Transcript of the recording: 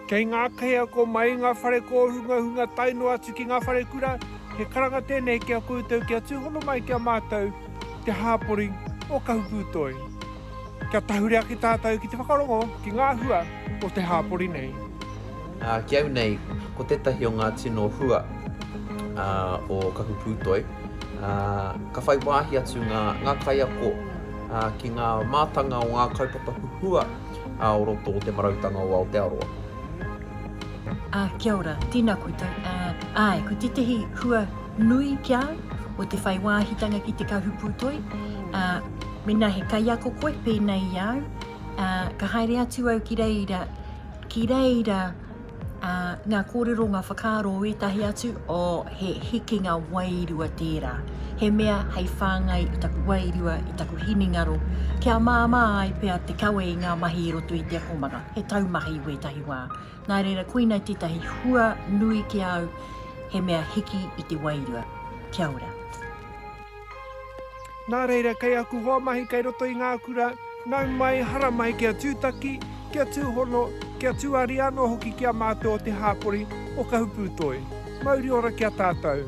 Kei ngā kaiako mai i ngā whare kōhungahunga tae noa atu ki ngā wharekura, he karanga tēnei ki a koutou kia tūhono mai ki a mātou te hāpori o Kahupūtoi. Kia tahure ake tātou ki te whakarongo ki ngā hua o te hāpori nei. Ki au nei, ko tētahi o ngā tino hua o Kahu Pūtoi, ka whai wāhi atu ngā kaiako ki ngā mātanga o ngā kaupapa huhua o roto o Te Marautanga o Aotearoa. Kia ora, tēnā koutou. Āe, ko tētahi hua nui ki a au, ko te whai wāhitanga ki te Kahu Pūtoi. Mēnā he kaiako koe pēnei i a au, ka haere atu au ki reira, Ki reira ngā kōrero, ngā whakaaro o ētahi atu, oh, he hikinga wairua tērā. He mea hei whāngai i taku wairua, i taku hinengaro, kia māmā ai pea te kawe i ngā mahi i roto i te akomanga, he taumahi wētahi wā. Nā reira, koinei tētahi hua nui ki a au, he mea hiki i te wairua. Kia ora. Nā reira, kei aku hoa mahi kei roto i ngā kura, nau mai, hara mai kia tūtaki, kia tūhono, kia tūari anō hoki ki a mātou o te hāpori, o Kahupūtoi. Mauri ora ki a tātou.